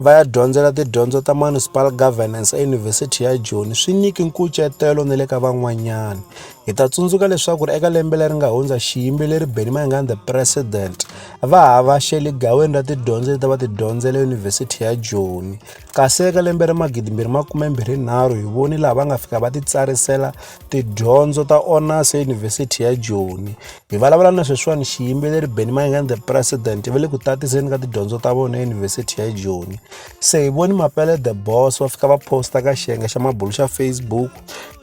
va ya dyondzela tidyondzo ta Municipal Governance eYunivhesiti ya Joni swi nyiki nkucetelo na le ka van'wanyana. Hi ta tsundzuka leswaku ri eka lembe leri nga hundza xiyimbeleri Benny Mayengani the President va ha va xele gaweni ra tidyondzo leti va ti dyondzela Yunivhesiti ya Joni. Kasi eka lembe ra magidi mbirhi makume mbirhi nharhu hi voni laha va nga fika va ti tsarisela tidyondzo ta honors eYunivhesiti ya Joni. hi vulavula na sweswiwani xiyimbeleri benny mayengani the president va le ku tatiseni ka tidyondzo ta vona eyunivhesiti ya joni se hi voni mapele the boss va fika va posta ka xiyenge xa mabulu xa facebook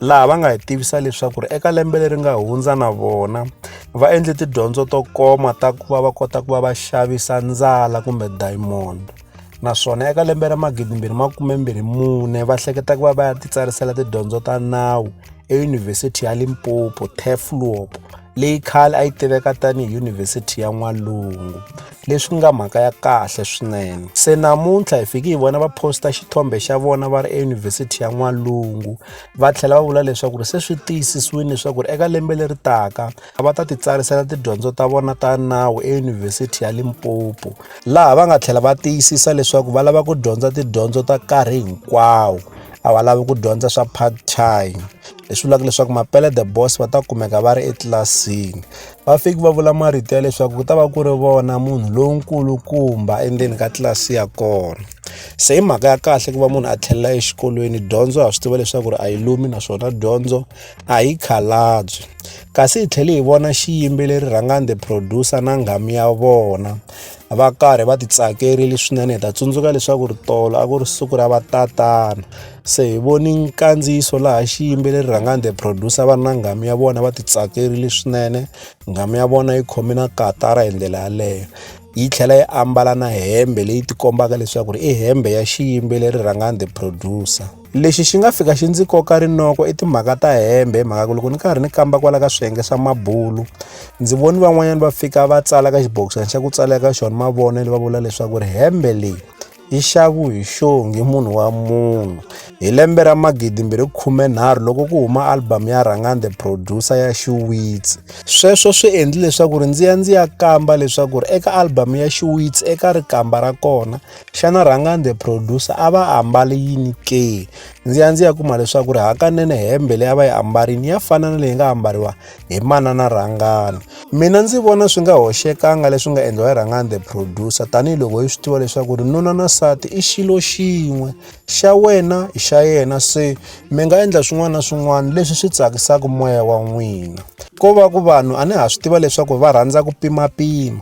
laha va nga hi tivisa leswaku ri eka lembe leri nga hundza na vona va endle tidyondzo to koma ta ku va va kota ku va va xavisa ndzala kumbe diamond naswona eka lembe ra 2024 va hleketa ku va va ya titsarisela tidyondzo ta nawu eyunivhesiti ya limpopo teflop leyi khale a yi tiveka tanihi yunivhesiti ya n'walungu leswi nga mhaka ya kahle swinene se namuntlha hi fiki hi vona va posta xithombe xa vona va ri eyunivhesiti ya n'walungu va tlhela va vula leswaku ri se swi tiyisisiwile leswaku ri eka lembe leri taka a va ta titsarisela tidyondzo ta vona ta nawu eyunivhesiti ya limpopo laha va nga tlhela va tiyisisa leswaku va lava ku dyondza tidyondzo ta nkarhi hinkwawo a va lavi ku dyondza swa part time leswi vulaka leswaku mapele the boss va ta kumeka va ri etlilasini va fiki va vula marito ya leswaku ku ta va ku ri vona munhu lonkulukumba endzeni ka tlilasi ya kona se hi mhaka ya kahle ku va munhu a tlhelela exikolweni dyondzo ha swi tiva leswaku ri a yi lumi naswona dyondzo a hi khalabyi kasi hi tlhele hi vona xiyimbeleri rhangani the producer na nghamu ya vona va karhi va ti tsakerile swinene hi ta tsundzuka leswaku ri tolo a ku ri siku ra vatatana se hi voni nkandziyiso laha xiyimbeleri rhangani the producer va ri na nghamu ya vona va ti tsakerile swinene nghamu ya vona yi khome na katara hi ndlela yaleyo yi tlhela yi ambala na hembe leyi tikombaka leswaku ri i hembe ya xiyimbeleri rhangani the producer lexi xi nga fika xi ndzi koka rinoko i timhaka ta hembe hi mhaka ku loko ni karhi ni kamba kwala ka swiyenge swa mabulu ndzi voni van'wanyana va fika va tsala ka xibokisana xa ku tsala ka xona mavonelo va vula leswaku ri hembe leyi yi xavu hi xongi munhu wa munhu hi lembe ra magidi mbirhi khume nharhu loko ku huma album ya rhangani the producer ya xiwitsi sweswo swi endli leswaku ri ndzi ya ndzi ya kamba leswaku ri eka album ya xiwitsi eka rikamba ra kona xana rhangani the producer a va ambali yini ke ndzi ya ndzi ya kuma leswaku ri hakanene hembe leyi a va yi ambarini ya fana na leyi nga ambariwa hi manana rhangani mina ndzi vona swi nga hoxekanga leswi nga endliwa hi rhangani the producer tanihiloko hi swi tiva leswaku ri nuna na sati i xilo xin'we xa wena i xa yena se mi nga endla swin'wana na swin'wana leswi swi tsakisaka moya wa n'wina ko va ku vanhu a ni ha swi tiva leswaku va rhandza ku pimapima